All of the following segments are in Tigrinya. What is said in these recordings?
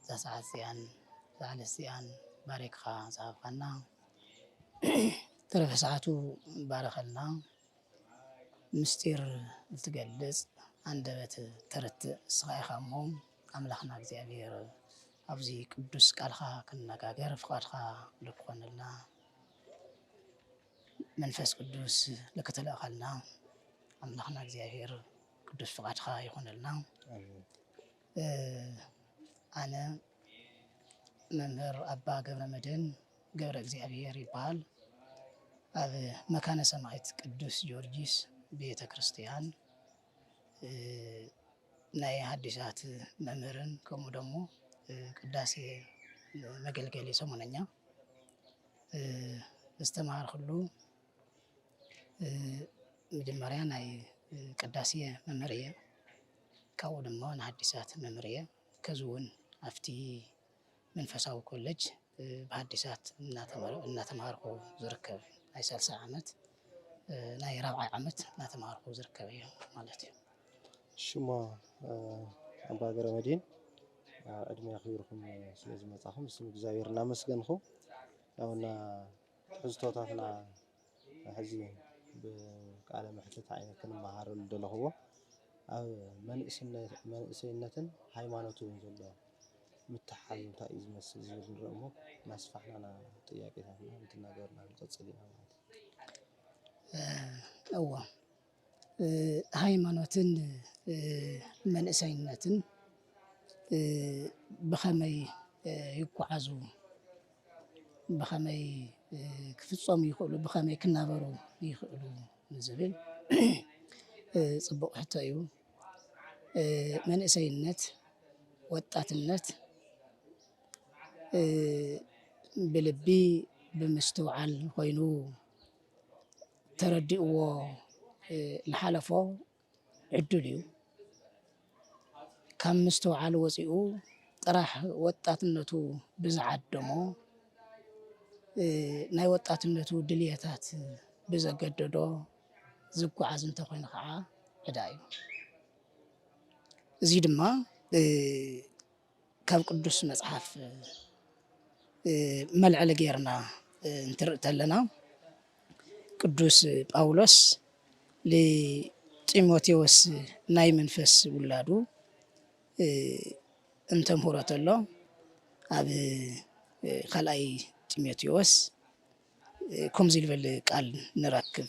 እዛ ሰዓት እዚኣን እዛ ዕለት እዚኣን ባሪኽኻ ዝሃብካና ተረፈ ሰዓቱ ባርኸልና ምስጢር እትገልጽ ኣንደበት ተርትእ ንስኻ ኢኻ እሞ ኣምላኽና እግዚኣብሔር ኣብዚ ቅዱስ ቃልኻ ክንነጋገር ፍቓድካ ልክኾነልና መንፈስ ቅዱስ ልክተለእኸልና ኣምላኽና እግዚኣብሔር ቅዱስ ፍቓድካ ይኾነልና ኣነ መምህር ኣባ ገብረመድህን ገብረእግዚኣብሄር ይበሃል። ኣብ መካነ ሰማዕት ቅዱስ ጊዮርጊስ ቤተ ክርስትያን ናይ ሓዲሳት መምህርን ከምኡ ደሞ ቅዳሴ መገልገሊ ሰሙነኛ ዝተምሃርኩሉ መጀመርያ ናይ ቅዳሴ መምህር እየ። ካብኡ ድማ ንሃዲሳት መምርየ ከዚ እውን ኣብቲ መንፈሳዊ ኮለጅ ብሃዲሳት እናተማሃርኩ ዝርከብ ናይ ሳልሳይ ዓመት ናይ ራብዓይ ዓመት እናተማሃርኩ ዝርከብ እዩ ማለት እዩ ሽሞ ኣባ ገረ መድን ዕድሜ ክብርኩም ስለ ዝመፃኹም ስም እግዚኣብሔር እናመስገንኹ ያውና ትሕዝቶታትና ሕዚ ብቃለ መሕትት ዓይነ ክንመሃረሉ ደለኹዎ ኣብ መንእሰይነትን ሃይማኖት ውን ዘሎ ምትሕሓዝ እንታይ እዩ ዝመስል ዝብል ንርኢ እሞ እናስፋሕና ኢና ጥያቄታትና እንትናገርና ንቅፅል ኢና ማለት እዩ። እወ። ሃይማኖትን መንእሰይነትን ብኸመይ ይጎዓዙ፣ ብኸመይ ክፍፀሙ ይኽእሉ፣ ብኸመይ ክናበሩ ይኽእሉ ንዝብል ፅቡቕ ሕቶ እዩ። መንእሰይነት፣ ወጣትነት ብልቢ ብምስትውዓል ኾይኑ ተረዲእዎ ልሓለፎ ዕዱል እዩ። ካብ ምስትውዓል ወፂኡ ጥራሕ ወጣትነቱ ብዝዓደሞ ናይ ወጣትነቱ ድልየታት ብዘገደዶ ዝጓዓዝ እንተኾይኑ ኸዓ ዕዳ እዩ። እዙይ ድማ ካብ ቅዱስ መጽሓፍ መልዕሊ ጌርና እንትርኢ ተለና ቅዱስ ጳውሎስ ንጢሞቴዎስ ናይ መንፈስ ውላዱ እንተምህሮ ተሎ ኣብ ካልኣይ ጢሞቴዎስ ከምዚ ዝበል ቃል ንረክብ።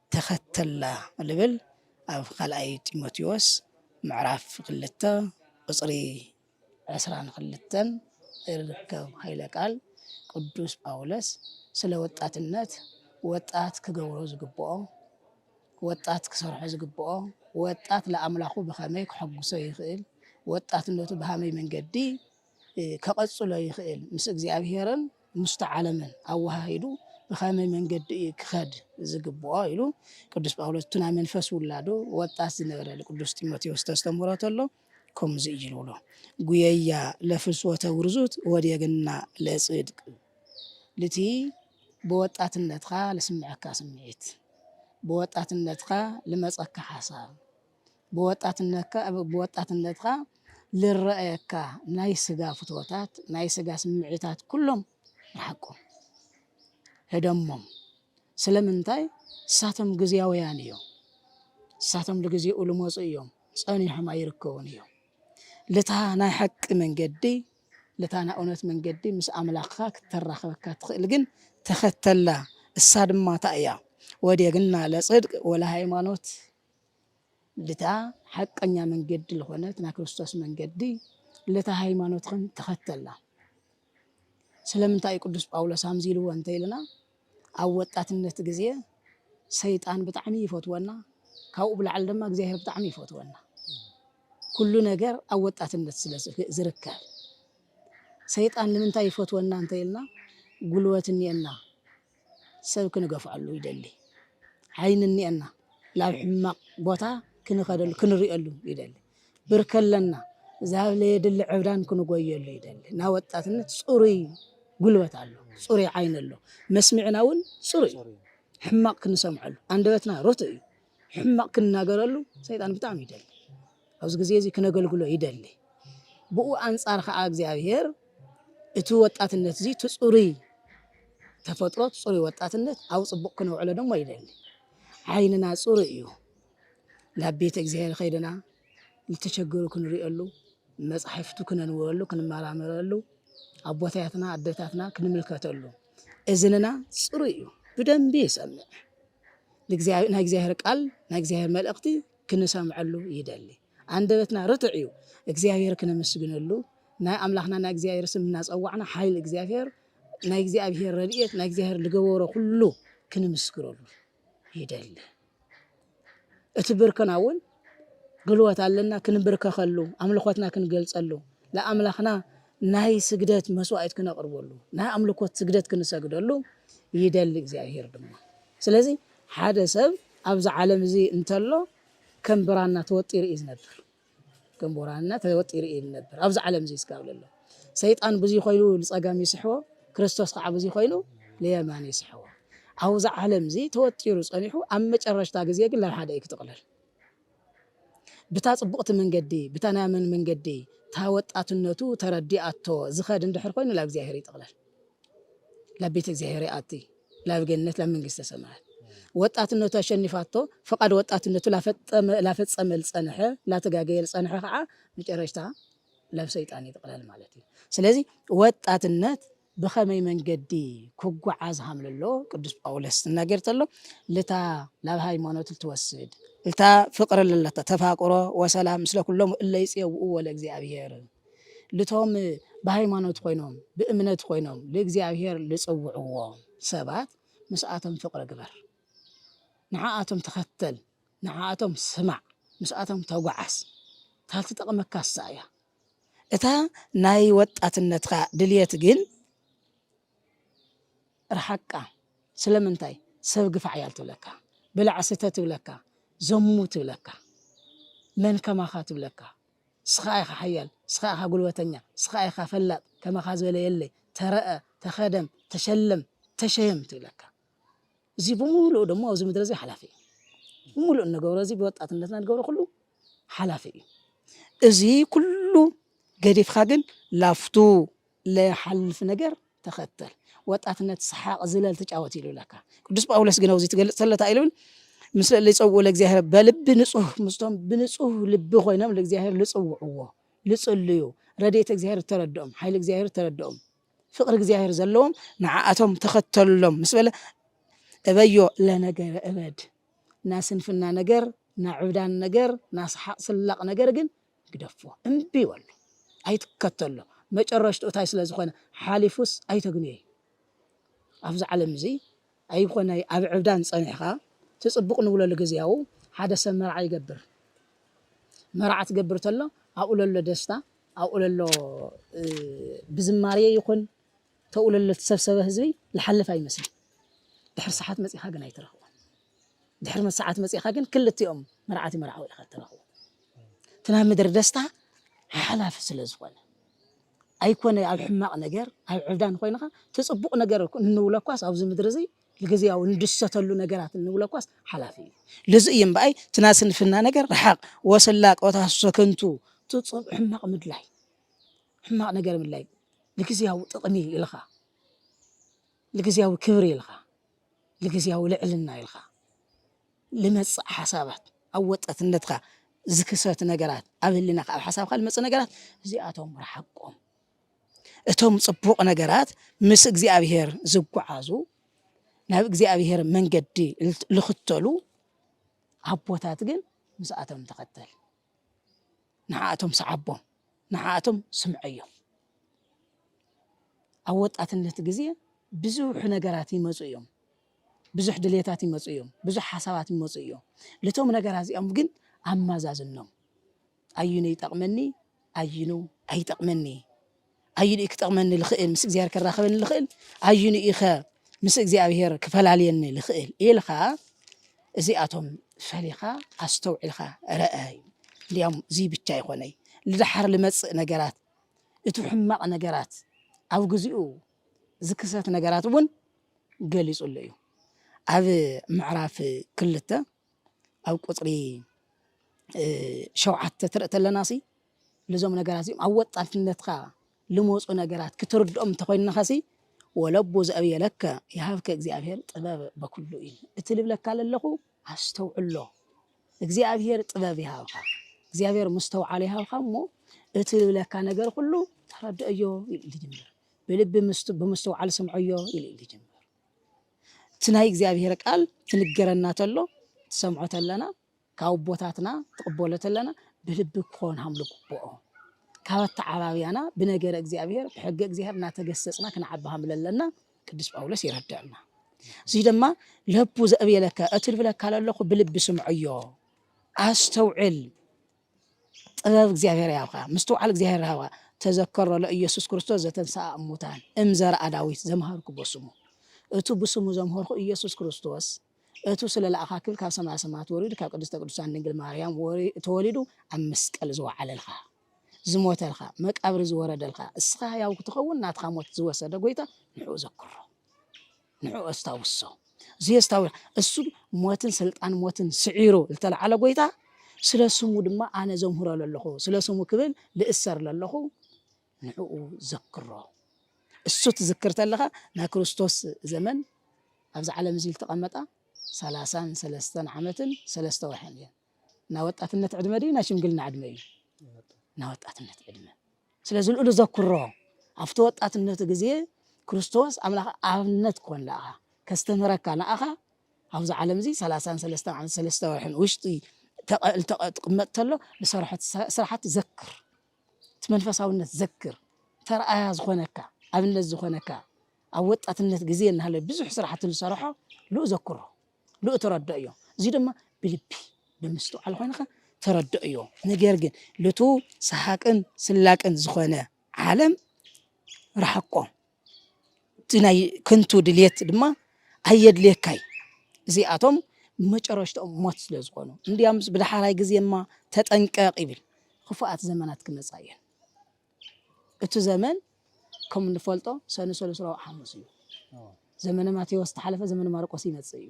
ተኸተላ ልብል ኣብ ካልኣይ ጢሞቴዎስ ምዕራፍ ክልተ ቁጽሪ ዕስራን ክልተን እርከብ ሃይለ ቃል ቅዱስ ጳውለስ ስለ ወጣትነት ወጣት ክገብሮ ዝግብኦ ወጣት ክሰርሖ ዝግብኦ ወጣት ለኣምላኹ ብኸመይ ከሐጉሶ ይኽእል ወጣትነቱ ብሃመይ መንገዲ ከቐጽሎ ይኽእል ምስ እግዚኣብሔርን ምስቲ ዓለምን ኣወሃሂዱ ብኸመይ መንገዲ እዩ ክኸድ ዝግብኦ ኢሉ ቅዱስ ጳውሎስ እቲ ናይ መንፈስ ውላዱ ወጣት ዝነበረ ንቅዱስ ጢሞቴዎስ ተስተምህሮ ተሎ ከምዚ እዩ ዝብሎ ጉየያ ለፍልስወተ ውርዙት ወዴግና ለጽድቅ ልቲ ብወጣትነትካ ልስምዐካ ስምዒት ብወጣትነትካ ልመጸካ ሓሳብ ብወጣትነካ ብወጣትነትካ ልረኣየካ ናይ ስጋ ፍትወታት ናይ ስጋ ስምዒታት ኩሎም ርሓቆም ህደሞም ስለምንታይ ንሳቶም ግዝያውያን እዮም ንሳቶም ልግዜኡ ልመጹ እዮም ጸኒሖም ኣይርከቡን እዮም ልታ ናይ ሓቂ መንገዲ ልታ ናይ እውነት መንገዲ ምስ ኣምላኽካ ክተራኽበካ ትኽእል ግን ተኸተላ እሳ ድማ እንታይ እያ ወዴግና ለጽድቅ ወለሃይማኖት ልታ ሓቀኛ መንገዲ ልኾነት ናይ ክርስቶስ መንገዲ ልታ ሃይማኖትኽን ተኸተላ። ስለምንታይ እዩ ቅዱስ ጳውሎስ ኣምዚ ኢልዎ እንተኢልና ኣብ ወጣትነት ግዜ ሰይጣን ብጣዕሚ ይፈትወና ካብኡ ብላዕሊ ድማ እግዚኣብሔር ብጣዕሚ ይፈትወና ኩሉ ነገር ኣብ ወጣትነት ስለ ዝርከብ ሰይጣን ንምንታይ ይፈትወና እንተኢልና ጉልበት እኒኤና ሰብ ክንገፍኣሉ ይደሊ ዓይኒ እኒኤና ላብ ሕማቅ ቦታ ክንኸደሉ ክንሪኤሉ ይደሊ ብርኪ ኣለና ዛብ ለየድሊ ዕብዳን ክንጎየሉ ይደሊ እና ወጣትነት ፅሩይ ጉልበት ኣሎ ፅሩይ ዓይኒ ኣሎ መስሚዕና እውን ፅሩይ ሕማቅ ክንሰምዐሉ ኣንደበትና ርቱእ እዩ ሕማቅ ክንናገረሉ ሰይጣን ብጣዕሚ ይደሊ ኣብዚ ግዜ እዚ ክነገልግሎ ይደሊ ብኡ ኣንጻር ከዓ እግዚኣብሔር እቲ ወጣትነት እዚ እቲ ጽሩይ ተፈጥሮ ጽሩይ ወጣትነት ኣብ ጽቡቅ ክነውዕሎ ደሞ ይደሊ ዓይንና ጽሩይ እዩ ናብ ቤተ እግዚኣብሔር ከይድና ዝተቸገሩ ክንሪኦሉ መጻሕፍቱ ክነንብበሉ ክንመራመረሉ ኣቦታትና ኣደታትና ክንምልከተሉ እዝንና ጽሩይ እዩ ብደንቢ ይሰምዕ ናይ እግዚኣብሔር ቃል ናይ እግዚኣብሔር መልእኽቲ ክንሰምዐሉ ይደሊ ኣንደበትና ርቱዕ እዩ እግዚኣብሔር ክነመስግነሉ ናይ ኣምላኽና ናይ እግዚኣብሔር ስም እናጸዋዕና ሓይል እግዚኣብሔር ናይ እግዚኣብሔር ረድኤት ናይ እግዚኣብሔር ዝገበሮ ኩሉ ክንምስክረሉ ይደሊ እቲ ብርክና እውን ግልዎት ኣለና ክንብርከኸሉ ኣምልኾትና ክንገልጸሉ ለኣምላኽና ናይ ስግደት መስዋእት ክነቕርበሉ ናይ ኣምልኮት ስግደት ክንሰግደሉ ይደሊ እግዚኣብሄር ድማ ስለዚ ሓደ ሰብ ኣብዚ ዓለም እዚ እንተሎ ከም ብራና ተወጢሩ እዩ ዝነብር ከም ብራና ተወጢሩ እዩ ዝነብር ኣብዚ ዓለም እዚ ስጋብ ለሎ ሰይጣን ብዙይ ኮይኑ ልጸጋም ይስሕቦ፣ ክርስቶስ ከኣ ብዙይ ኮይኑ ልየማን ይስሕቦ። ኣብዛ ዓለምዚ ተወጢሩ ጸኒሑ ኣብ መጨረሽታ ግዜ ግን ናብ ሓደ እዩ ክጥቕለል። ብታ ጽቡቕቲ መንገዲ ብታ ናይ ኣመን መንገዲ እታ ወጣትነቱ ተረዲኣቶ ዝኸድ እንድሕር ኮይኑ ናብ እግዚኣብሔር ይጥቕለል። ናብ ቤተ እግዚኣብሔር ይኣቲ፣ ናብ ገነት ናብ መንግስተ ሰማያት ወጣትነቱ ኣሸኒፋቶ ፍቃድ ወጣትነቱ ላፈጸመ ልጸንሐ ላተጋገየ ልጸንሐ ከዓ መጨረሽታ ለብ ሰይጣን ይጥቕለል ማለት እዩ። ስለዚ ወጣትነት ብኸመይ መንገዲ ክጓዓዝ ሃም ለሎ ቅዱስ ጳውሎስ ትናገር ተሎ ልታ ላብ ሃይማኖት ልትወስድ እታ ፍቅር ለለታ ተፋቅሮ ወሰላም ምስለ ኩሎም እለ ይጽየውኡ ወለ እግዚኣብሔር ልቶም ብሃይማኖት ኮይኖም ብእምነት ኮይኖም ልእግዚኣብሔር ልጽውዕዎ ሰባት ምስኣቶም ፍቅሪ ግበር ንዓኣቶም ተኸተል ንዓኣቶም ስማዕ ምስኣቶም ተጓዓዝ እታ ትጠቕመካ ንሳ እያ። እታ ናይ ወጣትነትካ ድልየት ግን ርሓቃ ስለምንታይ ሰብ ግፋዕ ያል ትብለካ ብላዕ ስተ ትብለካ ዘሙ ትብለካ መን ከማካ ትብለካ ንስካ ኢካ ሓያል ንስካ ኢካ ጉልበተኛ ንስካ ኢካ ፈላጥ ከማካ ዝበለ የለይ ተረኣ ተከደም ተሸለም ተሸየም ትብለካ እዚ ብምሉኡ ደሞ ኣብዚ ምድሪ እዚ ሓላፊ እዩ። ብምሉእ እንገብሮ እዚ ብወጣትነትና ንገብሮ ኩሉ ሓላፊ እዩ። እዚ ኩሉ ገዲፍካ ግን ላፍቱ ለይሓልፍ ነገር ተኸተል ወጣትነት ሰሓቅ ዝለል ተጫወት ኢሉ ለካ ቅዱስ ጳውሎስ ግን ኣብዚ ትገልጽ ተሎ እንታይ ኢሉ ምስ ልጸውኡ ለእግዚኣብሔር በልቢ ንጹህ ምስቶም ብንጹህ ልቢ ኮይኖም ለእግዚኣብሔር ልጽውዕዎ ልጽልዩ ረድኤት እግዚኣብሔር ተረድኦም ሓይሊ እግዚኣብሔር ተረድኦም ፍቕሪ እግዚኣብሔር ዘለዎም ንዓኣቶም ተኸተሎም ምስ በለ እበዮ ለነገረ እበድ ናስንፍና ነገር ናዕብዳን ነገር ናስሓቅ ስላቅ ነገር ግን ግደፎ እምቢ በሎ ኣይትከተሎ መጨረሽትኡ እንታይ ስለ ዝኾነ ሓሊፉስ ኣይተግንዮ እዩ ኣብዚ ዓለም እዚ ኣይኮነ ኣብ ዕብዳን ጸኒሕካ እቲ ጽቡቅ ንብለሉ ግዝያዉ ሓደ ሰብ መርዓ ይገብር መርዓ ትገብር ተሎ ኣብኡ ለሎ ደስታ ኣብኡ ለሎ ብዝማርየ ይኩን ተኡ ለሎ ትሰብሰበ ህዝቢ ልሓልፍ ኣይመስል ድሕር ሰሓት መጺካ ግን ኣይትረክቦ ድሕር መሰዓት መጺካ ግን ክልቲኦም መርዓቲ መርዓዊ ኢካ ትረክቦ እቲ ናይ ምድሪ ደስታ ሓሓላፊ ስለ ዝኮነ ኣይኮነ ኣብ ሕማቅ ነገር ኣብ ዕብዳን ኮይንኻ ትጽቡቅ ነገር እንብለኳስ ኣብዚ ምድሪ እዚ ልግዝያዊ እንድሰተሉ ነገራት እንብለኳስ ሓላፊ እዩ ልዚ እዩ እምበኣይ ትና ስንፍና ነገር ረሓቅ ወስላ ቆታሶ ከንቱ ትጽብ ሕማቅ ምድላይ ሕማቅ ነገር ምድላይ ልግዝያዊ ጥቅሚ ኢልኻ ልግዝያዊ ክብሪ ኢልኻ ልግዝያዊ ልዕልና ኢልኻ ልመጽእ ሓሳባት፣ ኣብ ወጠትነትካ ዝክሰት ነገራት፣ ኣብ ህልናኻ ኣብ ሓሳብካ ልመጽእ ነገራት እዚኣቶም ርሓቆም። እቶም ጽቡቕ ነገራት ምስ እግዚኣብሄር ዝጓዓዙ ናብ እግዚኣብሄር መንገዲ ልኽተሉ ኣቦታት ግን ምስኣቶም ተኸተል። ንዓኣቶም ስዓቦም ንዓኣቶም ስምዐዮም። ኣብ ወጣትነት ግዜ ብዙሕ ነገራት ይመፁ እዮም። ብዙሕ ድሌታት ይመፁ እዮም። ብዙሕ ሓሳባት ይመፁ እዮም። ልቶም ነገራት እዚኦም ግን ኣማዛዝኖም ኣዩኑ ይጠቕመኒ ኣዩኑ ኣይጠቕመኒ ኣዩንኢ ክጠቕመኒ ልኽእል? ምስ እግዚኣብሔር ከራኽበኒ ልኽእል? ኣዩንኢኸ ምስ እግዚኣብሔር ክፈላልየኒ ልኽእል? ኢልኻ እዚኣቶም ፈሊኻ ኣስተውዒልኻ ረኣ እዩ። እንዲያውም እዙይ ብቻ ኣይኮነይ ልድሓር ልመፅእ ነገራት እቲ ሕማቕ ነገራት ኣብ ግዚኡ ዝክሰት ነገራት እውን ገሊፁሉ እዩ ኣብ ምዕራፍ ክልተ ኣብ ቁፅሪ ሸውዓተ ትርኢ ተለናሲ ልዞም ነገራት እዚኦም ኣወጣትነትካ ልመፁ ነገራት ክትርድኦም እንተኾይንኻሲ ወለቡ ዘእብየ ለከ ይሃብከ እግዚኣብሔር ጥበብ በኩሉ እዩ እቲ ልብለካ ለለኹ ኣስተውዕሎ እግዚኣብሔር ጥበብ ይሃብካ እግዚኣብሔር ምስተውዓለ ይሃብካ እሞ እቲ ልብለካ ነገር ኩሉ ተረድኦዮ ይል ልጅምር ብልቢ ብምስተውዓል ስምዖዮ ይል ልጅምር እቲ ናይ እግዚኣብሔር ቃል ትንገረና ተሎ ትሰምዖ ተለና ካብ ኣቦታትና ትቕበሎ ተለና ብልቢ ክኾን ሃምሉ ግብኦ ካብ ኣተዓባብያና ብነገረ እግዚኣብሔር ብሕገ እግዚኣብሔር እናተገሰጽና ክንዓቢ ሃምለ ኣለና ቅዱስ ጳውሎስ ይረዳና እዚ ድማ ለቡ ዘእብየለከ እቲ ልብለካ ለለኹ ብልቢ ስምዐዮ ኣስተውዕል ጥበብ እግዚኣብሔር ያብካ ምስትውዓል እግዚኣብሔር ሃባ ተዘከሮ ለኢየሱስ ክርስቶስ ዘተንሥኣ እሙታን እም ዘርኣ ዳዊት ዘምሃርኩ በስሙ እቱ ብስሙ ዘምሀርኩ ኢየሱስ ክርስቶስ እቱ ስለ ለኣኻ ክብል ካብ ሰማያ ሰማያት ወሪዱ ካብ ቅድስተ ቅዱሳን ድንግል ማርያም ተወሊዱ ኣብ መስቀል ዝወዓለልካ ዝሞተልካ መቃብር ዝወረደልካ እስኻ ሕያው ክትኸውን ናትኻ ሞት ዝወሰደ ጎይታ ንሕኡ ዘክሮ ንዕኡ ኣስታውሶ ዘየስታውስ እሱ ሞትን ስልጣን ሞትን ስዒሩ ዝተለዓለ ጎይታ ስለ ስሙ ድማ ኣነ ዘምህሮ ለለኹ ስለ ስሙ ክብል ልእሰር ለለኹ ንዕኡ ዘክሮ እሱ ትዝክር ተለኻ ናይ ክርስቶስ ዘመን ኣብዚ ዓለም እዚ ዝተቐመጣ ሰላሳን ሰለስተን ዓመትን ሰለስተ ወርሕን እየን ናይ ወጣትነት ዕድመ ድዩ ናይ ሽምግልና ዕድመ እዩ? ናይ ወጣትነት ዕድመ። ስለዚ ልኡሉ ዘኩሮ ኣብቲ ወጣትነቱ ግዜ ክርስቶስ ኣምላኽ ኣብነት ኮን ለኣኻ ከስተምህረካ ንኣኻ ኣብዚ ዓለም እዚ ሰላሳን ሰለስተ ዓመት ሰለስተ ወርሕን ውሽጢ ትቕመጥ ተሎ ንሰርሖት ስራሓት ዘክር እቲ መንፈሳውነት ዘክር ተርኣያ ዝኾነካ ኣብነት ዝኾነካ ኣብ ወጣትነት ግዜ እናሃለ ብዙሕ ስራሕቲ ዝሰርሖ ልኡ ዘክሮ ልእተረድእዮ እዚ ድማ ብልቢ ብምስትውዓል ኮይንኻ ተረድእዮ ነገር ግን ልቱ ሰሓቅን ስላቅን ዝኾነ ዓለም ረሓቆ እቲ ናይ ከንቱ ድልት ድማ ኣየድልየካይ እዚኣቶም መጨረሽትኦም ሞት ስለ ዝኾኑ እንዲያምስ ብደሓራይ ግዜ እማ ተጠንቀቅ ይብል ክፉኣት ዘመናት ክመፃ እየን። እቱ ዘመን ከም እንፈልጦ ሰኑ ሰሉስ ረቡዕ ሓሙስ እዩ ዘመነ ማቴዎስ ተሓለፈ ዘመነ ማርቆስ ይመፅእ እዩ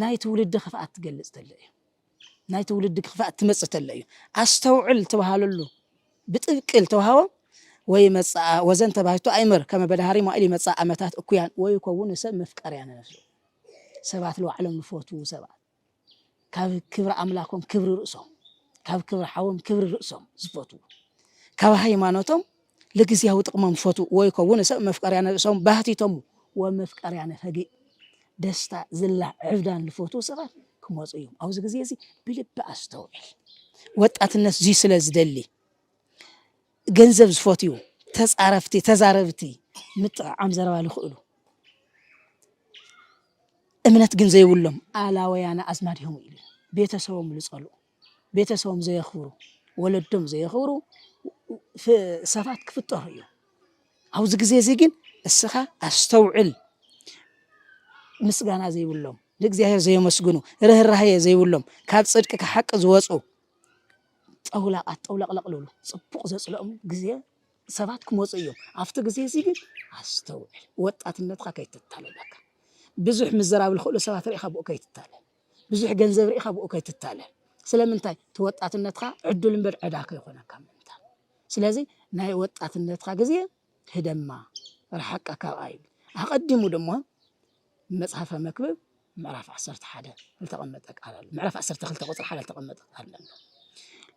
ናይ ትውልዲ ክፍኣት ትገልፅ ተሎ እዩ ናይ ትውልዲ ክፍኣት ትመፅእ ተሎ እዩ ኣስተውዕል ትበሃለሉ ብጥብቂ ዝተውሃቦ ወይ መፃኣ ወዘን ተባሂቱ ኣይምር ከመ በዳሃሪ ማኢል ይመፃ ኣመታት እኩያን ወይ ከውን ሰብ መፍቀርያ ንነፍሱ ሰባት ልዋዕሎም ንፈትዉ ሰባት ካብ ክብሪ ኣምላኮም ክብሪ ርእሶም ካብ ክብሪ ሓዎም ክብሪ ርእሶም ዝፈትዉ ካብ ሃይማኖቶም ልግዝያዊ ጥቕሞም ዝፈትዉ ወይ ከውን ሰብ መፍቀርያነ ርእሶም ባህቲቶም ወመፍቀርያነ ፈጊእ ደስታ ዝላ ዕብዳን ዝፈትዉ ሰባት ክመፁ እዮም። ኣብዚ ግዜ እዚ ብልቢ ኣስተውዕል። ወጣትነት እዙይ ስለ ዝደሊ ገንዘብ ዝፈትዩ ተጻረፍቲ ተዛረብቲ ምጥዕዓም ዘረባ ልኽእሉ እምነት ግን ዘይብሎም ኣላወያነ ኣዝማድ ኢዮም ኢሉ ቤተሰቦም ልጸልኡ ቤተሰቦም ዘየኽብሩ ወለዶም ዘየኽብሩ ሰባት ክፍጠሩ እዮም። ኣብዚ ግዜ እዚ ግን እስኻ ኣስተውዕል ምስጋና ዘይብሎም ንእግዚኣብሔር ዘየመስግኑ ርህራሄ ዘይብሎም ካብ ጽድቂ ካብ ሓቂ ዝወጹ ጠውላቓት ጠውለቕለቕ ልብሉ ጽቡቕ ዘጽልኦም ግዜ ሰባት ክመጹ እዮም። ኣብቲ ግዜ እዚ ግን ኣስተውዕል፣ ወጣትነትካ ከይትታለል በቃ። ብዙሕ ምዘራብ ዝኽእሉ ሰባት ርኢኻ ብኡ ከይትታለል፣ ብዙሕ ገንዘብ ርኢኻ ብኡ ከይትታለል። ስለምንታይ እቲ ወጣትነትካ ዕዱል እምበር ዕዳ ከይኾነካ ምእንታን። ስለዚ ናይ ወጣትነትካ ግዜ ህደማ፣ ርሓቃ ካብኣ ይብል። ኣቐዲሙ ድማ መጽሐፈ መክብብ ምዕራፍ ዓሰርተ ሓደ ዝተቐመጠ ቃል ኣሎ። ምዕራፍ ዓሰርተ ክልተ ቁጽሪ ሓደ ዝተቐመጠ ቃል ኣሎ።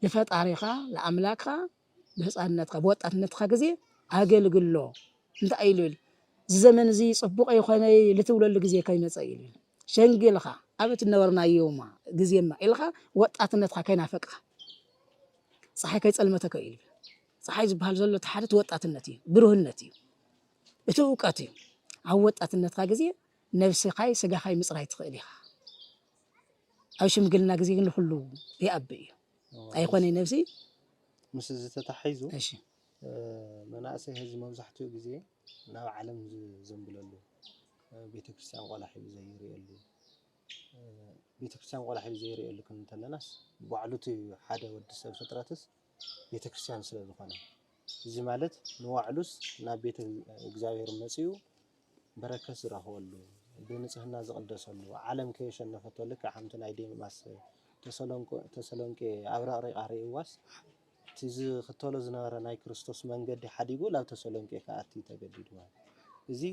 ንፈጣሪኻ ንኣምላክኻ ብህፃንነትካ ብወጣትነትካ ግዜ ኣገልግሎ እንታይ ኢሉ ኢሉ እዚ ዘመን እዚ ፅቡቕ ይኾነ ልትብለሉ ግዜ ከይመፀ ኢሉ ሸንጊልኻ ኣብ እትነበርናዮማ ግዜማ ኢልኻ ወጣትነትካ ከይናፈቅኻ ፀሓይ ከይፀልመተከ ኢሉ ጸሓይ ዝበሃል ዘሎ እቲ ሓደ እቲ ወጣትነት እዩ፣ ብሩህነት እዩ፣ እቲ እውቀት እዩ። ኣብ ወጣትነትካ ግዜ ነብስኻይ ስጋኻይ ምጽራይ ትኽእል ኢኻ። ኣብ ሽምግልና ግዜ ግን ንኹሉ ይኣቢ እዩ። ኣይኾነይ ነብሲ ምስ እዚ ተታሒዙ እሺ እ፣ መናእሰይ ሕዚ መብዛሕትኡ ግዜ ናብ ዓለም ዝዘንብለሉ እ፣ ቤተክርስትያን ቆላ ሒዙ ዘይርእየሉ እ፣ ቤተክርስትያን ቆላ ሒዙ ዘይርእየሉ ክንብል እንተለናስ ባዕሉ እቲ ሓደ ወዲ ሰብ ፍጥረትስ ቤተክርስትያን ስለ ዝኾነ እዚ ማለት ንባዕሉስ ናብ ቤተ እግዚኣብሔር መጺኡ በረከት ዝረኽበሉ ብንጽህና ዝቕደሰሉ ዓለም ከየሸነፈቶ ልክዕ ከምቲ ናይ ዴማስ ተሰሎንቄ ኣብረቕሪቓ ርእይዋስ እቲ ዝኽተሎ ዝነበረ ናይ ክርስቶስ መንገዲ ሓዲጉ ናብ ተሰሎንቄ ክኣቲ ተገዲዱ ማለት እዚ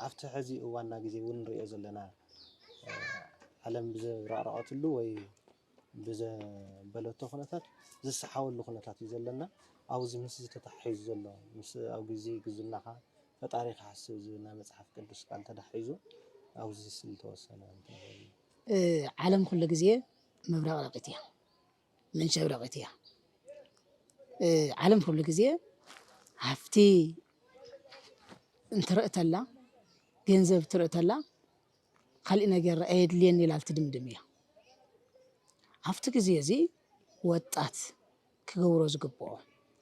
ኣብቲ ሕዚ እዋንና ግዜ እውን ንሪኦ ዘለና ዓለም ብዘብረቕረቐትሉ ወይ ብዘበለቶ ኩነታት ዝሰሓወሉ ኩነታት እዩ ዘለና ኣውዚ ምስዚ ተታሓሒዙ ዘሎ ምስ ኣብ ግዚ ግዝናኻ ፈጣሪ ክሓስብ ዝብል ናይ መጽሓፍ ቅዱስ ቃል ተዳሒዙ ኣውዚ ስል ተወሰነ እንተበሉ ዓለም ኩሉ ግዜ መብረቕረቂት እያ መንሸብረቂት እያ ዓለም ኩሉ ግዜ ሃፍቲ እንትርእተላ ገንዘብ ትርእተላ ካሊእ ነገር ኣየድልየኒ ኢላ ትድምድም እያ። ኣብቲ ግዜ እዚ ወጣት ክገብሮ ዝግብኦ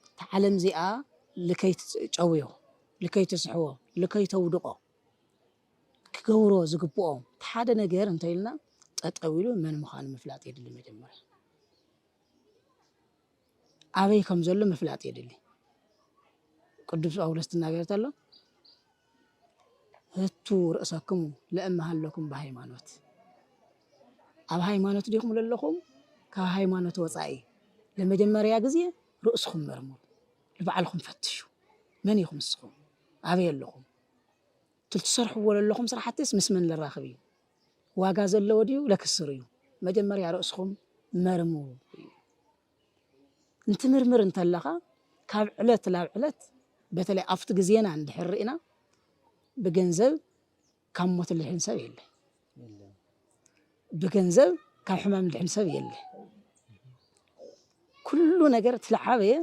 እታ ዓለም እዚኣ ልከይትጨውዮ፣ ልከይትስሕቦ፣ ልከይተውድቖ ክገብሮ ዝግብኦ እቲ ሓደ ነገር እንተኢልና ጠጠው ኢሉ መን ምዃኑ ምፍላጥ የድሊ መጀመርያ። ኣበይ ከም ዘሎ ምፍላጥ የድሊ። ቅዱስ ጳውሎስ ትናገር ተሎ ህቱ ርእሰክሙ ለእመ ሃለኩም ብሃይማኖት ኣብ ሃይማኖት ዲኹም ለለኹም ካብ ሃይማኖት ወፃኢ ለመጀመርያ ግዜ ርእስኹም መርምሩ፣ ንባዕልኹም ፈትሹ። መን ኢኹም ንስኹም? ኣበይ ኣለኹም? ትሰርሕዎ ለለኹም ስራሕትስ ምስ መን ለራኽብ እዩ? ዋጋ ዘለዎ ድዩ ለክስር እዩ መጀመርያ ርእስኹም መርምሩ እዩ እንትምርምር እንተለኻ ካብ ዕለት ናብ ዕለት በተለይ ኣብቲ ግዜና እንድሕር ርኢና ብገንዘብ ካብ ሞት ልድሕን ሰብ የለ ብገንዘብ ካብ ሕማም ልድሕን ሰብ የለ ኩሉ ነገር ትለዓበየ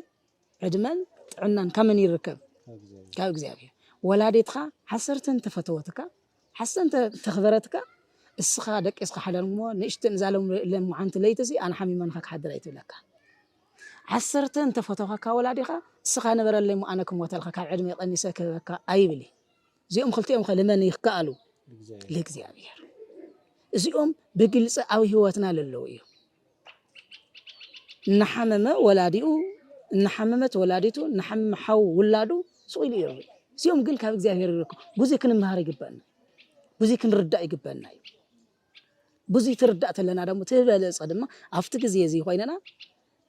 ዕድመን ጥዕናን ካብ መን ይርከብ? ካብ እግዚኣብሔር። ወላዲትካ ሓሰርተ እንተፈተወትካ ሓሰ እንተ ተኽበረትካ እስኻ ደቂስካ ሓዳር እሞ ንእሽትን እዛ ለምዓንቲ ለይቲ እዚ ኣነ ሓሚመንኻ ክሓድር ኣይትብለካ ዓሰርተ እንተፈተኸካ ወላዲኻ እስኻ ንበረለይ እሞ ኣነ ክሞተልካ ካብ ዕድመ ቀኒሰ ክህበካ ኣይብል እዚኦም ክልቲኦም ከ ልመን ይከኣሉ ልእግዚኣብሔር እዚኦም ብግልፂ ኣብ ህይወትና ለለዉ እዮም እናሓመመ ወላዲኡ እናሓመመት ወላዲቱ እናሓመመ ሓው ውላዱ ስቕ ኢሉ ይረብዩ እዚኦም ግን ካብ እግዚኣብሔር ይረክ ብዙ ክንምሃር ይግበአና ብዙ ክንርዳእ ይግበአና እዩ ብዙ ትርዳእ ተለና ደሞ ትበለፀ ድማ ኣብቲ ግዜ እዚ ኮይነና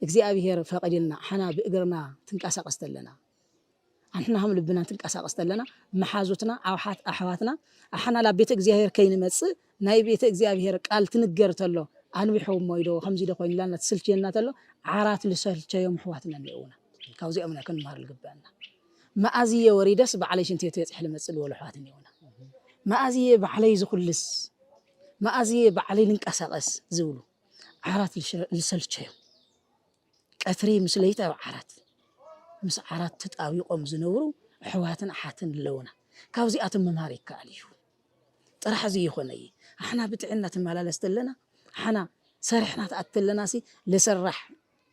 እግዚኣብሔር ፈቂድልና ሓና ብእግርና ትንቀሳቀስ ተለና ኣንሕና ከም ልብና ትንቀሳቐስ ተለና መሓዙትና ኣውሓት ኣሕዋትና ኣሓና ላብ ቤተ እግዚኣብሔር ከይንመጽእ ናይ ቤተ እግዚኣብሔር ቃል ትንገር ተሎ ኣንዊሖ እሞ ይዶ ከምዚ ዶ ኮይኑ ላና ትስልችየና ተሎ ዓራት ልሰልቸዮም ኣሕዋትና እኒኦውና ካብዚኦም ኢና ክንምሃር ልግበአና መኣዝየ ወሪደስ ባዕለይ ሽንቲ ቤት በፂሕ ልመፅእ ልበሉ ኣሕዋት እኒኦውና መኣዝየ ባዕለይ ዝኹልስ መኣዝየ ባዕለይ ልንቀሳቐስ ዝብሉ ዓራት ልሰልቸዮም ቀትሪ ምስ ለይቲ ኣብ ዓራት ምስ ዓራት ተጣቢቆም ዝነብሩ ኣሕዋትን ኣሓትን ኣለውና ካብዚኣቶም ምምሃር ይከኣል እዩ ጥራሕ ዝይኮነ እዪ ኣሕና ብጥዕና ትመላለስ ተለና ኣሓና ሰሪሕና ትኣቲ ተለናሲ ልስራሕ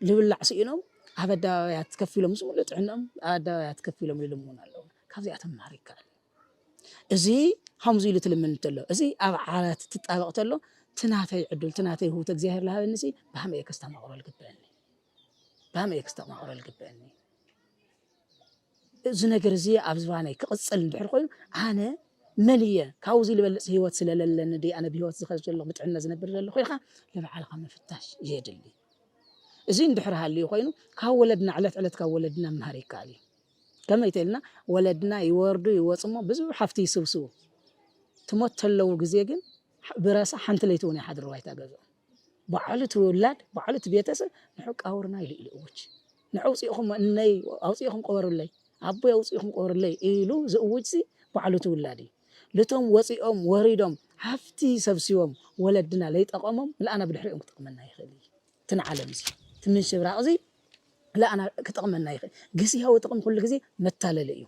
ልብላዕ ስኢኖም ኣብ ኣደባባያት ከፍ ኢሎም ምስ ሙሉእ ጥዕንኦም ኣብ ኣደባባያት ከፍ ኢሎም ልልምኑ ኣለውና ካብዚኣቶም ምምሃር ይከኣል። እዚ ከምዚ ኢሉ ትልምን እንተሎ እዚ ኣብ ዓራት ትጣበቕ ተሎ እቲ ናተይ ዕዱል እቲ ናተይ ህውተ እግዚኣብሔር ዝሃበኒ ሲ ብሃመይ እየ ከስተማቕሮ ዝግበአኒ ብሃመይ እየ ከስተማቕሮ ዝግበአኒ እዚ ነገር እዚ ኣብ ዝባነይ ክቕፅል እንድሕር ኮይኑ ኣነ መን እየ ካብዚ ዝበልፅ ህይወት ስለለለኒ ድ ኣነ ብሂወት ዝኸ ዘለኹ ብጥዕነ ዝነብር ዘለኹ ኢልካ ንባዕልካ ምፍታሽ የድሊ እዚ እንድሕር ሃልዩ ኮይኑ ካብ ወለድና ዕለት ዕለት ካብ ወለድና ምሃር ይከኣል እዩ ከመይ ተኢልና ወለድና ይወርዱ ይወጹሞ ብዙሕ ሃፍቲ ይስብስቡ ትሞት ተለዉ ግዜ ግን ብረሳ ሓንቲ ለይቲ ውን ኣይሓድሩ ባይታ ገዝኦም ባዕሉ እቲ ውላድ ባዕሉ እቲ ቤተሰብ ንዑ ቃውርና ኢሉ ኢሉ እውጅ ንዑ ኣውጽኢኹም እነይ ኣውጽኢኹም ቆበሩለይ ኣቦይ ኣውጽኢኹም ቆበሩለይ ኢሉ ዝእውጅሲ ባዕሉ እቲ ውላድ እዩ ልቶም ወጺኦም ወሪዶም ሃፍቲ ሰብሲቦም ወለድና ለይጠቐሞም ምልኣና ብድሕሪኦም ክጠቕመና ይኽእል እዩ እትን ዓለም እዚ እቲ ምንሽብራቅ እዚ ልኣና ክጠቅመና ይክእል ግስያዊ ጥቅሚ ኩሉ ግዜ መታለሊ እዩ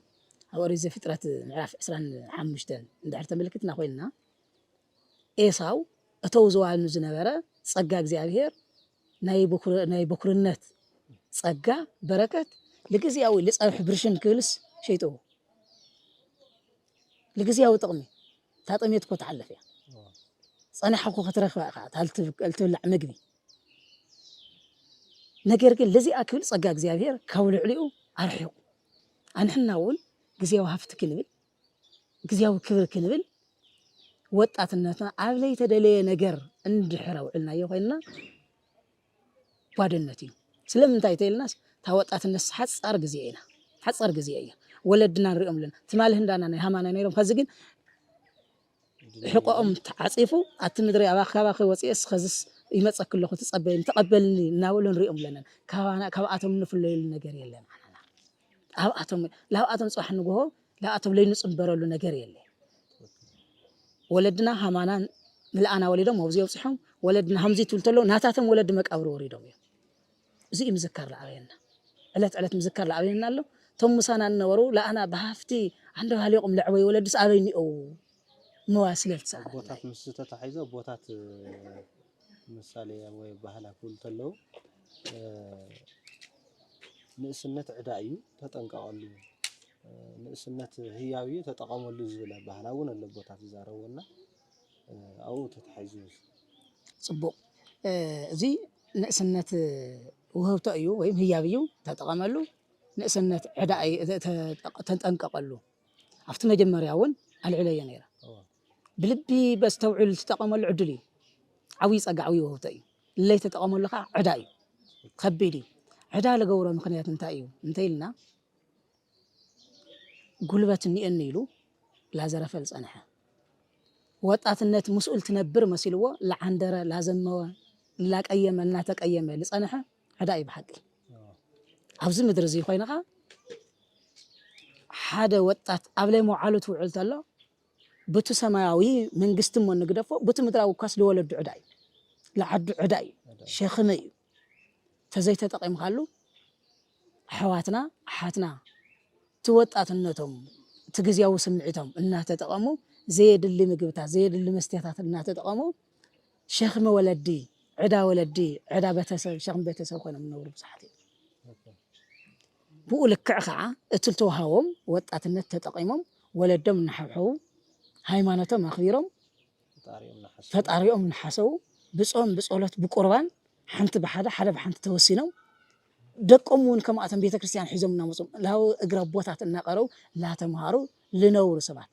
ኣብ ኦሪት ዘፍጥረት ምዕራፍ ዕስራን ሓሙሽተን እንድሕር ተመልክትና ኮይንና ኤሳው እተው ዘዋኑ ዝነበረ ጸጋ እግዚኣብሔር ናይ በኩርነት ጸጋ በረከት ልግዝያዊ ልጸብሕ ብርሽን ክብልስ ሸይጥዎ ልግዝያዊ ጥቅሚ እታ ጥሜት እኮ ትሓልፍ እያ ፀናሕ እኮ ክትረክባ ኢካ እታ እትብላዕ ምግቢ ነገር ግን ለዚኣ ክብል ፀጋ እግዚኣብሔር ካብ ልዕሊኡ ኣርሒቁ ኣንሕና እውን ግዜያዊ ሃፍቲ ክንብል ግዜያዊ ክብሪ ክንብል ወጣትነትና ኣብ ለይተደለየ ነገር እንድሕር ኣውዕልናዮ ኮይንና ጓደነት እዩ ስለምንታይ ተይልናስ ታወጣትነትስ ሓፃር ግዜ ኢና ሓፃር ግዜ እያ ወለድና ንሪኦም ኣለና ትማሊ ህንዳና ናይ ሃማና ነይሮም ከዚ ግን ሕቆኦም ተዓፂፉ ኣቲ ምድሪ ኣብ ኣካባኺ ወፂኤስ ኸዝስ ይመፀኪ ኣለኹ ትፀበይን ተቐበልኒ እናበሉ ንሪኦም ኣለና ካባና ካብኣቶም እንፍለየሉ ነገር የለን። ኣብኣቶም ላብኣቶም ፅባሕ ንግሆ ላብኣቶም ለይንፅምበረሉ ነገር የለ ወለድና ሃማና ምልኣና ወሊዶም ኣብዚ ኣብፅሖም ወለድና ሃምዚ ትብል ተሎ ናታቶም ወለዲ መቃብር ወሪዶም እዮም እዚ እዩ ምዝካር ላዕበየና ዕለት ዕለት ምዝካር ላዕበየና ኣሎ እቶም ምሳና እነበሩ ላኣና ብሃፍቲ ዓንደባሊቆም ለዕበዩ ወለድስ ኣበይ እኒኦው ምባል ስለልትሰኣና ቦታት ምስ ዝተታሒዞ ቦታት ምሳሌ ወይ ኣበሃህላ ክብሉ እንተለዉ ንእስነት ዕዳ እዩ ተጠንቀቐሉ፣ ንእስነት ህያብ እዩ ተጠቐመሉ ዝብል ኣበሃህላ እውን ኣሎ ኣቦታት ዝዛረብዎ እና ኣብኡ ተታሒዙ እዩ። ፅቡቕ እዚ ንእስነት ውህብቶ እዩ ወይም ህያብ እዩ ተጠቐመሉ፣ ንእስነት ዕዳ እዩ ተጠንቀቐሉ ኣብቲ መጀመርያ እውን ኣልዒለዮ ነይረ። ብልቢ በስተውዕል ትጠቐመሉ ዕድል እዩ ዓብይ ፀጋ ዓብይ ውህብቶ እዩ ለይተጠቐመሉ ከዓ ዕዳ እዩ ከቢድ እዩ ዕዳ ልገብሮ ምክንያት እንታይ እዩ እንተይልና ጉልበት እኒኤኒ ኢሉ ላዘረፈል ፀንሐ ወጣትነት ምስኡል ትነብር መሲልዎ ላዓንደረ ላዘመወ ላቀየመ እናተቀየመ ልፀንሐ ዕዳ እዩ ብሓቂ ኣብዚ ምድሪ እዚ ኮይንኻ ሓደ ወጣት ኣብ ለይ መውዓሉ ትውዕል ተሎ ቡቲ ሰማያዊ መንግስቲ እሞ ንግደፎ ቡቲ ምድራዊ እኳስ ልወለዱ ዕዳ እዩ ልዓዱ ዕዳ እዩ ሸክሚ እዩ ተዘይተጠቂምካሉ ኣሕዋትና ኣሓትና እቲ ወጣትነቶም እቲ ግዝያዊ ስምዒቶም እናተጠቐሙ ዘየድሊ ምግብታት ዘየድሊ መስትያታት እናተጠቐሙ ሸክሚ ወለዲ ዕዳ ወለዲ ዕዳ ቤተሰብ ሸክሚ ቤተሰብ ኮይኖም ዝነብሩ ብዙሓት እዮም። ብኡ ልክዕ ከኣ እቲ ልተውሃቦም ወጣትነት ተጠቒሞም ወለዶም እናሓብሐቡ፣ ሃይማኖቶም ኣኽቢሮም፣ ፈጣሪኦም እናሓሰቡ፣ ብጾም ብጸሎት ብቁርባን ሓንቲ ብሓደ ሓደ ብሓንቲ ተወሲኖም፣ ደቆም እውን ከምኣቶም ቤተክርስትያን ሒዞም እናመጹ ላብ እግሪ ኣቦታት እናቐረቡ ላተምሃሩ ልነብሩ ሰባት።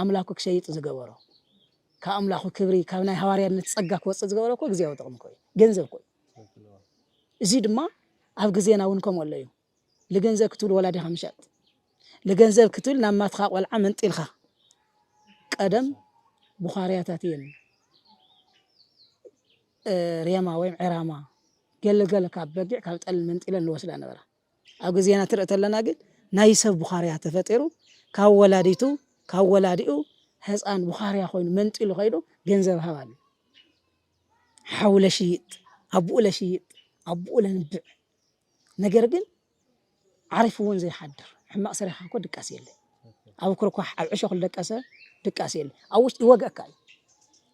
ኣምላኩ ክሸይጥ ዝገበሮ ካብ ኣምላኩ ክብሪ ካብ ናይ ሃዋርያነት ጸጋ ክወጽእ ዝገበሮ እኮ ግዜያዊ ጥቕሚ እኮ እዩ ገንዘብ እኮ እዩ እዚ ድማ ኣብ ግዜና እውን ከምኡ ኣሎ እዩ ልገንዘብ ክትብል ወላዲኻ ምሸጥ ልገንዘብ ክትብል ናብ ማትኻ ቆልዓ መንጢልካ ቀደም ቡኻርያታት እየን ሬማ ወይም ዕራማ ገለገለ ካብ በጊዕ ካብ ጠል መንጢለን ልወስዳ ነበራ ኣብ ግዜና ትርኢ ተለና ግን ናይ ሰብ ቡኻርያ ተፈጢሩ ካብ ወላዲቱ ካብ ወላዲኡ ህፃን ቡኻርያ ኮይኑ መንጢሉ ከይዱ ገንዘብ ሃብ ኣሉ ሓው ለሽይጥ ኣቡኡ ለሽይጥ ኣቡኡ ለንብዕ ነገር ግን ዓሪፉ እውን ዘይሓድር ሕማቅ ሰሪሕካ እኮ ድቃስ የለ ኣብ ኩርኳሕ ኣብ ዕሾክ ደቀሰ ድቃስ የለ ኣብ ውሽጢ ይወግኣካ እዩ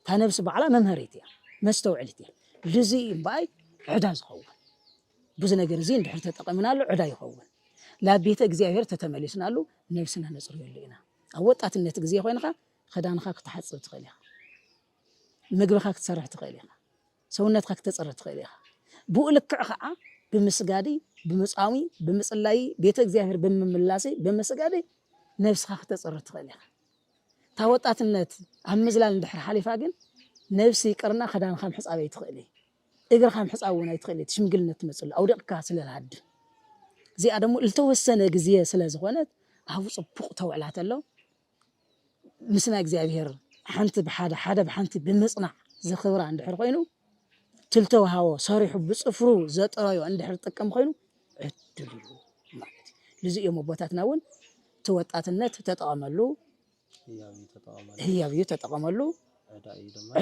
እታ ነብሲ ባዕላ መምሀሪት እያ መስተውዕሊት እያ ልዙይ እምበኣይ ዕዳ ዝኸውን ብዙ ነገር እዙይ እንድሕር ተጠቐምናሉ ዕዳ ይኸውን። ላብ ቤተ እግዚኣብሔር ተተመሊስናሉ ነብስና ነጽርየሉ ኢና። ኣብ ወጣትነት ግዜ ኮይንኻ ኽዳንኻ ክትሓጽብ ትኽእል ኢኻ። ምግብኻ ክትሰርሕ ትኽእል ኢኻ። ሰውነትካ ክተፅሪ ትኽእል ኢኻ ብኡ ልክዕ ከዓ ብምስጋዲ ብምፃሚ ብምፅላይ ቤተ እግዚኣብሔር ብምምላሲ ብምስጋዲ ነብስኻ ክተፅሪ ትኽእል ኢኻ እታ ወጣትነት ኣብ ምዝላል እንድሕር ሓሊፋ ግን ነብሲ ይቅርና ክዳንካ ምሕፃብ ኣይትኽእል እግርኻ ምሕጻብ እውን ኣይትኽእል እቲ ሽምግልና እትመጽሉ ኣውዲቕካ ስለ ትሃድም እዚኣ ደሞ ልተወሰነ ግዜ ስለ ዝኾነት ኣብ ጽቡቕ ተውዕላ ተሎ ምስ ናይ እግዚኣብሔር ሓንቲ ብሓደ ሓደ ብሓንቲ ብምጽናዕ ዝኽብራ እንድሕር ኮይኑ ትልተውሃቦ ሰሪሑ ብጽፍሩ ዘጥረዮ እንድሕር ጥቅም ኮይኑ ዕድል እዩ ማለት እዩ ልዚ እዮም ኣቦታትና እውን እቲ ወጣትነት ተጠቐመሉ ህያብ እዩ ተጠቐመሉ፣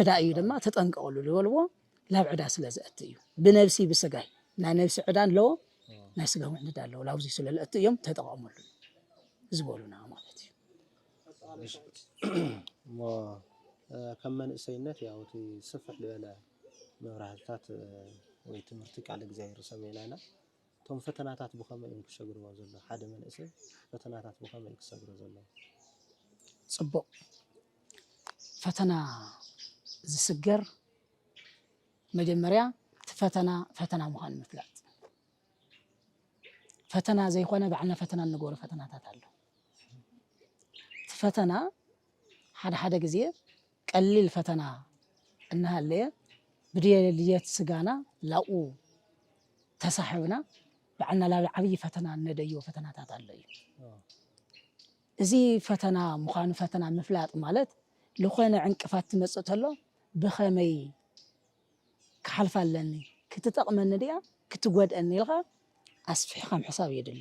ዕዳ እዩ ድማ ተጠንቀቐሉ ዝበልዎ ላብ ዕዳ ስለ ዘእቲ እዩ። ብነብሲ ብስጋይ ናይ ነብሲ ዕዳ ኣለዎ፣ ናይ ስጋ እውን ዕዳ ኣለዎ። ላብዚ ስለ ለእቲ እዮም ተጠቐመሉ ዝበሉና ማለት እዩ። እሞ ከም መንእሰይነት ያው እቲ ስፍሕ ዝበለ መብራህትታት ወይ ትምህርቲ ቃል እግዚኣብሔር ሰሚዕና ኢና። እቶም ፈተናታት ብኸመይ እዮም ክሰግርዎ ዘሎ ሓደ መንእሰይ ፈተናታት ብኸመይ እዩ ክሰግሮ ዘሎ? ጽቡቕ ፈተና ዝስገር መጀመርያ እቲ ፈተና ፈተና ምዃኑ ምፍላጥ ፈተና ዘይኮነ ባዕልና ፈተና እንገብሮ ፈተናታት ኣሎ እቲ ፈተና ሓደ ሓደ ግዜ ቀሊል ፈተና እናሃለየ ብድልየት ስጋና ላብኡ ተሳሕብና ባዕልና ላብ ዓብዪ ፈተና እነደይቦ ፈተናታት ኣሎ እዩ። እዚ ፈተና ምዃኑ ፈተና ምፍላጥ ማለት ልኾነ ዕንቅፋት ትመፅእ ተሎ ብኸመይ ክሓልፋ ኣለኒ፣ ክትጠቕመኒ ድያ ክትጎድእኒ ኢልኻ ኣስፊሕኻ ምሕሳብ የድሊ።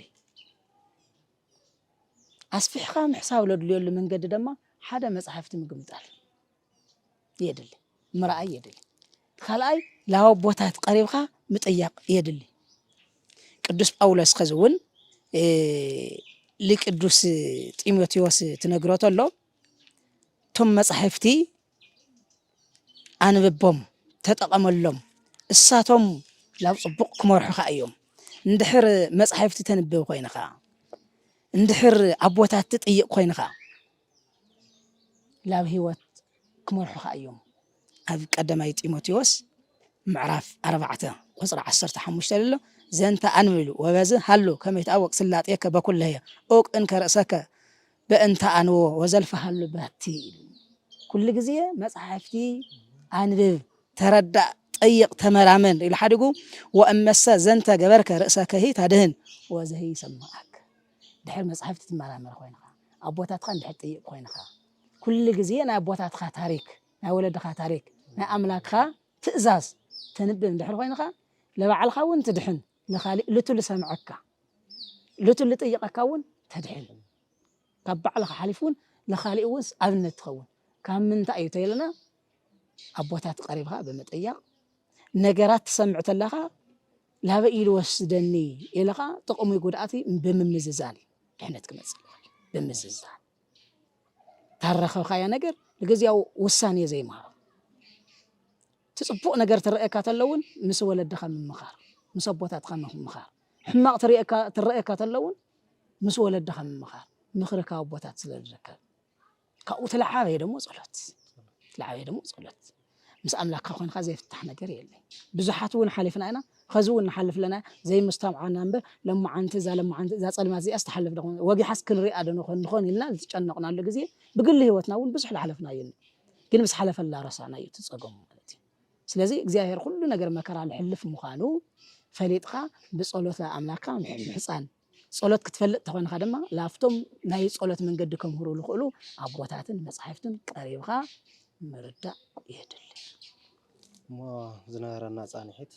ኣስፊሕኻ ምሕሳብ ለድልዮሉ መንገዲ ደማ ሓደ መጽሓፍቲ ምግምጣል የድሊ ምርኣይ የድሊ ካልኣይ ላወቦታት ቀሪብካ ምጥያቕ የድሊ ቅዱስ ጳውሎስ ከዚ እውን ልቅዱስ ጢሞቴዎስ ትነግሮ ተሎ እቶም መጻሕፍቲ ኣንብቦም ተጠቐመሎም እሳቶም ናብ ጽቡቕ ክመርሑኻ እዮም። እንድሕር መጻሕፍቲ ተንብብ ኮይንኻ፣ እንድሕር ኣቦታት ትጥይቕ ኮይንኻ ናብ ህይወት ክመርሑኻ እዮም። ኣብ ቀዳማይ ጢሞቴዎስ ምዕራፍ ኣርባዕተ ቁጽሪ ዓሰርተ ሓሙሽተ ኣሎ ዘንተ ኣንብሉ ወበዝ ሃሉ ከመ ይትኣወቅ ስላጤከ በኩለየ ኡቅ እንከ ርእሰከ በእንተ ኣንዎ ወዘልፈሃሉ ባቲ ኢሉኒ። ኩሉ ግዜ መጻሕፍቲ ኣንብብ፣ ተረዳእ፣ ጠይቕ፣ ተመራመር ኢሉ ሓዲጉ። ወእመሰ ዘንተ ገበርከ ርእሰከሂ ታድህን ወዘሂ ይሰምዓከ። ድሕር መጻሕፍቲ ትመራመር ኮይንኻ፣ ኣቦታትካ እንድሕር ትጥይቕ ኮይንኻ፣ ኩሉ ግዜ ናይ ኣቦታትካ ታሪክ፣ ናይ ወለድኻ ታሪክ፣ ናይ ኣምላክካ ትእዛዝ ተንብብ እንድሕር ኮይንኻ፣ ለባዕልኻ እውን ትድሕን። ንኻሊእ ልቱ ልሰምዐካ ልቱ ልጥይቐካ እውን ተድሕን ካብ ባዕልኻ ሓሊፉ እውን ንኻሊእ እውንስ ኣብነት ትኸውን ካብ ምንታይ እዩ ተይልና ኣቦታት ቀሪብኻ ብምጥያቕ ነገራት ትሰምዕ ተለኻ ላበይ ኢሉ ወስደኒ ኢልኻ ጥቕሚ ጉድኣቲ ብምምዝዛን ድሕነት ክመፅእ ይኽእል ብምዝዛን ታረኸብካያ ነገር ንግዝያዊ ውሳኔ ዘይምሃብ እቲ ጽቡቅ ነገር ትረኣየካ ተሎ እውን ምስ ወለድኻ ምምኻር ምስ ኣቦታትኻ ምምኻር ሕማቅ ትረኣየካ ተሎ እውን ምስ ወለድኻ ምምኻር ምኽሪ ካብ ኣቦታት ስለ ዝርከብ ካብኡ እቲ ለዓበየ ደሞ ጸሎት እቲ ለዓበየ ደሞ ጸሎት ምስ ኣምላክካ ኮንካ ዘይፍታሕ ነገር የለይ ብዙሓት ውን ሓሊፍና ኢና ኸዚ ውን ንሓልፍ ኣለና ዘይምስተውዓል ኢና እምበር ለማዓንቲ እዛ ለማዓንቲ እዛ ጸልማት እዚኣስ ትሓልፍ ዶ ወጊሓስ ክንሪኣ ዶ ንኾን ንኾን ኢልና ዝጨነቕናሉ ግዜ ብግሊ ህይወትና ውን ብዙሕ ዝሓለፍናዮ ኣሎ ግን ምስ ሓለፈላ ረሳዕናዮ እቲ ጸገሙ ማለት እዩ ስለዚ እግዚኣብሔር ኩሉ ነገር መከራ ልሕልፍ ምዃኑ ፈሊጥካ ብጸሎት ኣምላክካ ምሕጻን ጸሎት ክትፈልጥ ተኾንኻ ድማ ላብቶም ናይ ጸሎት መንገዲ ከምህሩ ዝኽእሉ ኣቦታትን መጻሕፍትን ቀሪብኻ ምርዳእ የድሊ። እሞ ዝነበረና ጻንሒት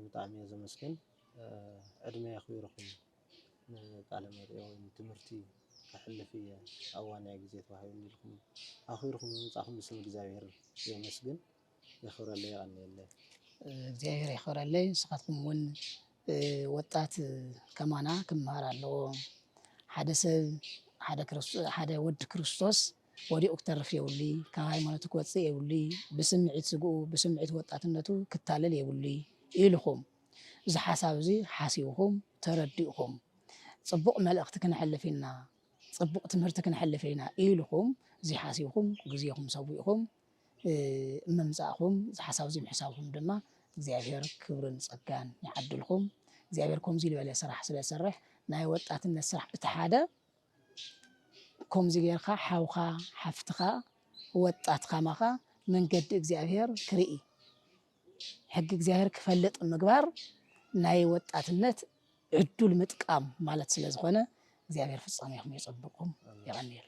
ብጣዕሚ እየ ዘመስግን ዕድመ የኽቢርኹም ንቃለ መጠይቅ ወይ ንትምህርቲ ከሕልፍ እየ ኣብ ዋንያ ግዜ ተዋሂቡኒ ኢልኩም ኣኽቢርኩም ብምምጻእኩም ብስም እግዚኣብሔር የመስግን። የኽብረለይ የቀንየለይ። እግዚኣብሔር የኽብረለይ ንስኻትኩም እውን ወጣት ከማና ክመሃር ኣለዎ ሓደ ሰብ ሓደ ወዲ ክርስቶስ ወዲቑ ክተርፍ የብሉ ካብ ሃይማኖቱ ክወፅእ የብሉ ብስምዒት ስግኡ ብስምዒት ወጣትነቱ ክታለል የብሉ ኢልኹም እዚ ሓሳብ እዚ ሓሲብኹም ተረዲእኹም ፅቡቕ መልእኽቲ ክነሕልፍ ኢና ፅቡቕ ትምህርቲ ክነሕልፍ ኢና ኢልኹም እዚ ሓሲብኹም ግዜኹም ሰዊእኹም ምምጻእኹም እዚ ሓሳብ እዚ ምሕሳብኩም ድማ እግዚኣብሔር ክብርን ጸጋን ይዓድልኩም። እግዚኣብሔር ከምዚ ዝበለ ስራሕ ስለ ዝሰርሕ ናይ ወጣትነት ስራሕ እቲ ሓደ ከምዚ ጌርካ ሓውካ ሓፍትካ ወጣት ከማኻ መንገዲ እግዚኣብሔር ክርኢ ሕጊ እግዚኣብሔር ክፈልጥ ምግባር ናይ ወጣትነት ዕዱል ምጥቃም ማለት ስለ ዝኾነ እግዚኣብሔር ፍጻሜኹም የጸብቅኩም የቐንየለይ።